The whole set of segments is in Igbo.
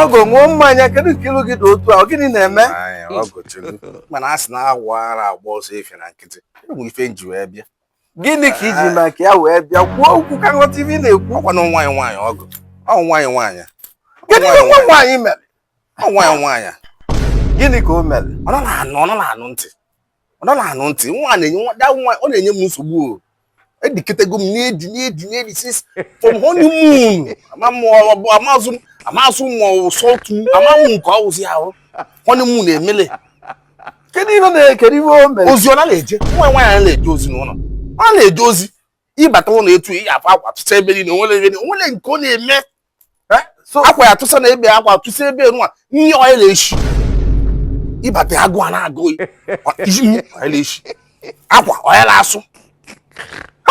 ọgọ ṅụọ mmanya kedu nke ilu gị dị otu a gịnị na-eme mana a sị na awọ ara agba ọsọ efifie na nkịtị enwe ife m ji wee bịa gịnị ka i ji maka ya wee bịa kwuo okwu ka m ghọta ife ị na-ekwu ọkwa na nwa gị nwaanyị ọgọ ọ nwa gị nwaanyị gịnị ka nwa m nwaanyị mere ọ nwa gị nwaanyị gịnị ka o mere ọ nọ na-anụ ntị ọ nọ na-anụ ntị nwa a na-enye nwa da nwa ọ na-enye m nsogbu o ediketego m n'edi n'edi n'edi since from honeymoon ama m ọ- ọ bụ amazi m amazi m ma ọ wụ salt moon ama m nke ọ wụzi ahụ honeymoon emele kedu ihe na-ekere ihe o mere ozi ọ na-eje nwa gị nwaanyị na-eje ozi n'ụlọ ọ na-eje ozi ị bata ụlọ etu ị ga-afụ akwa tụsa ebe niile o nwere ebe o nwere nke ọ na-eme eh? akwa ya tụsa na ebe akwa tụsa ebe nwa nri ọ ya na-eshi ị bata agụụ a na-agụ gị ọ ya na-eshi akwa ọ ya na-asụ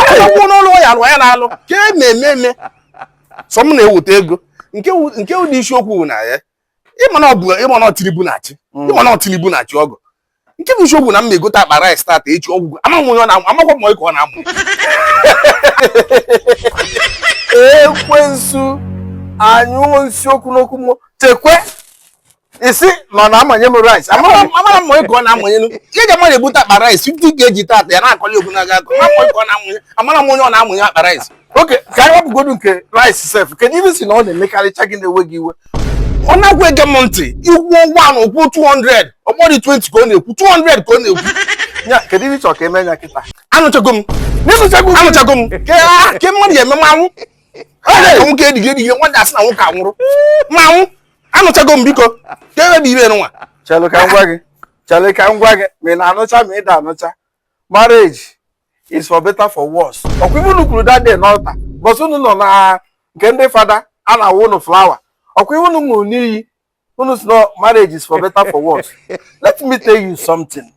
akwụkwọ n'ụlọ ya alụ ọ ya na-alụ ka e na-eme eme sọ m na-eweta ego nke wụdị isiokwu na ya ị ma na ọ bụ ị ma na ọ Tinubu na-achị mm. ị ma na ọ Tinubu na-achị ọgọ nke bụ isiokwu na m na-egote akpa rice tata echi ọ gwụgo amaghị onye ọ na-amụ amakwa m ka ọ na-amụ ekwensu anyụọ isiokwu n'okwu m chekwe isi ma na amanye m rice amara m onye ka ọ na-amanye ihe ji mmadụ ebute akpa rice 50 kg tata ya na-akọli okwu na-aga akọ amara m onye ọ na-amanye akpa rice okay ka anyị wepụgodu nke rice sef kedu ihe ị sị na ọ na-emekarịcha gị na-ewe gị iwe ọ nakwa ege m ntị i kwuo one o kwuo 200 ọ bụrọdị 20 ka ọ na-ekwu 200 ka ọ na-ekwu ya kedu ihe ị chọrọ ka eme ya kịta anụchago m anụchago m ke mmadụ ya eme mmanwụ nwoke edighị edighị nwadị asị na nwoke anwụrụ mmanwụ anụchago m biko ka ebe bụ ife nwa chelụ ka m gwa gị chelụ ka m gwa gị ma ị na-anụcha ma ị da anụcha marriage is for better for worse ọkwa ife unu kwuru that day n'altar bọs unu nọ na nke ndị fada a na-awụ unu flower ọkwa ife unu ṅụrụ n'iyi unu sị na marriage is for better for worse let me tell you something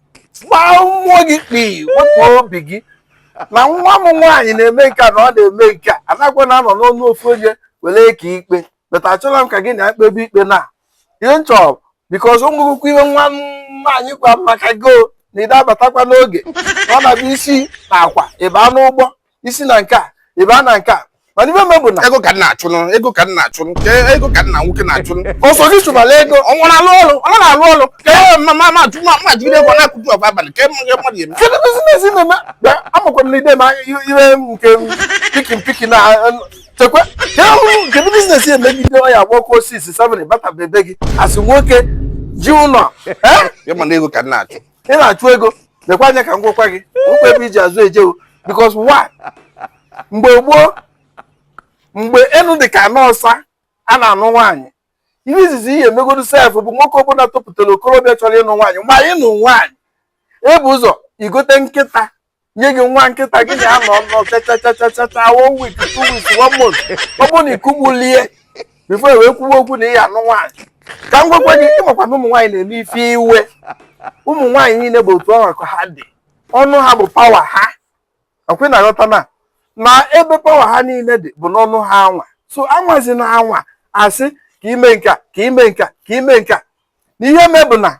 gbaa mmụọ gị kpii wepụ obi gị na nwa m nwaanyị na-eme nke a na ọ na-eme nke a anakwana anọ n'ọnụ ofu onye were kaa ikpe but achọla m ka gị na-ekpebe ikpe na ihe m chọ because o nwerekwa ihe nwa m nwaanyị gwa m maka gị na ị da abatakwa n'oge ọ na-abụ i si na Awka ị baa Enugu i si na nke a ị baa na nke a mana ife me bụ na ego ka m na-achụnụ ego ka m na-achụnụ ka ego ka nna nwoke na-achụnụ ọ sọ gị chụbala ego ọ nwụrụ alụ ọrụ ọ nara alụ ọrụ ka e ma ma ma jụma ma jụgide ego na-akụtu ọgwa abalị ka mmadụ ya mmadụ eme kedu business ị na-eme amakwa m na ide ma ihe nke pikin pikin na chekwa ka ahụ kedu business ya emegide ọya gbọkwa osisi seven bata be gị asị nwoke ji ụlọ ya mana ego ka m na-achụ ị na-achụ ego lekwa anya ka m gwakwa gị okwu ebe iji azụ ejewo because why mgbe gboo mgbe enu dị ka ana ọsa a na-anụ nwaanyị ihe izizi ihe emegodu sef bụ nwoke ọbụla topụtara okorobịa chọrọ ịnụ nwaanyị ma ịnụ nwaanyị ebu ụzọ igote nkịta nye gị nwa nkịta gị na ya nọ nọ chachachachacha one week two weeks one month ọ bụrụ na ikugbulie before e wee kwuwe okwu na ị ya anụ nwaanyị ka m gwakwa gị ịmakwa na ụmụ nwaanyị na-eme ife iwe ụmụ nwaanyị niile bụ otu ọnwa ka ha dị ọnụ ha bụ power ha ọkwa ị na-aghọta na na ebe power ha niile dị bụ n'ọnụ ha anwa so anwazi na anwa asị ka ime nka ka ime nka ka ime nka na ihe mee bụ na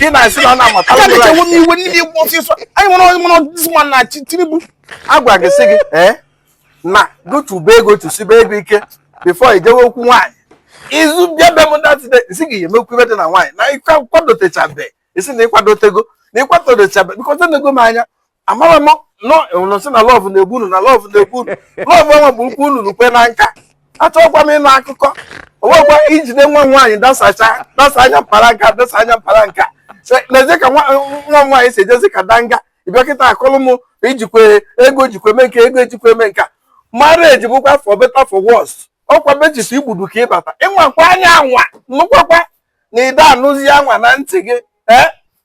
ị na-asị na ọ na-amata aga m echewo n'iwe n'ime igwe ọsịsọ anyị nwere onye mụrụ ọdịzi ma na chi tinubu agwa gị sị gị ee na chụba ego chụsibe ego ike before i jewe okwu nwaanyị izu bịa be m datide isi gị emekwu ihe dị na nwaanyị na ịkwadotechabe ị sị na ịkwadotego na ịkwadotechabe bikọta nego m anya amara m nọ sị na love na-egbu unu na love na-egbu unu love ọnwa bụ ukwu unu n'ukwe na nka achọghịkwa m ịnụ akụkọ owekwa ijide nwa m nwaanyị dasacha dasa anya mpara nka dasa anya mpara nka lezie ka nwa m nwaanyị si ejezi ka danga ịbịa kịta akọlụ m ijikwe ego jikwe eme nke ego ejikwe eme nka marriage bụkwa for better for worse ọkwa be chief igbudu ka ịbata ịnwakwa anya anwa nụkwakwa na ịda anụzi anwa na ntị gị ee eh?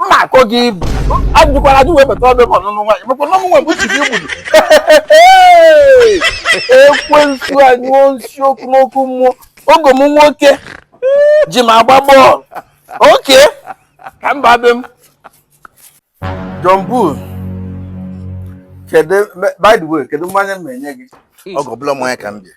mma akọ gị ibu ajụkwara ajụ wee bata be m ọnụnụ nwaanyị maka na ọmụnwa bụ chief igbudu ekwensu anyụọ nsị ọkụ n'ọkụ mmụọ ọgọ m nwoke ji m agba bọọlụ oke ka mba be m John Bull kedu by the way kedu mmanya m ya-enye gị ọgọ ọbụrọ mmanya ka m bịa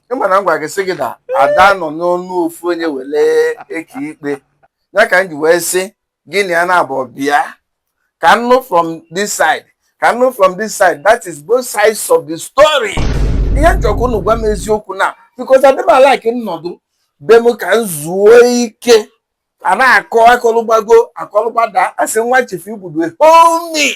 ịma na m gwara gị sị gị na ada anọ n'ọnụ ofu onye were eke ikpe ya ka m ji wee sị gị na ya naabọ bịa ka m nụ from this side ka m nụ from this side that is both sides of the story ihe m chọkwa unu gwa m eziokwu na because adị m alike m nọdụ be m ka m zuo ike a na-akọ akọlụgbago akọlụgbada asị nwa chief igbudu homi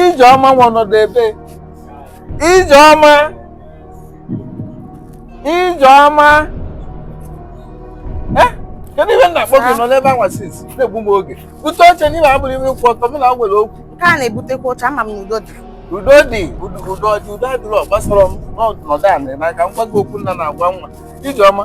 ijeọma nwa nọdụ ebee ijeọma ijeọma Eh, kedu ihe m na-akpọ gị ị nọ n'ebe anwa since na-egbu m oge bute oche n'ime abụrụ ime kwụ ọtọ m na-agwa gị okwu nke a na-ebutekwa oche ama m na udo dị udo dị udo udo dị udo adịrọ agbasarọ m nọdụ ana ka m gwa gị okwu nna na-agwa nwa ijeọma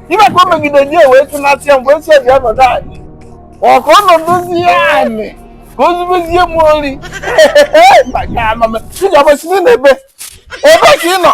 ibe ka o megide di wee tụnasị ya mgbe esi bịa nọdụ anị ọ ka ọ nọdụzia anị ka o zubezie m ori maka amama ị ga-agbasi n'ebe ebe ka ị nọ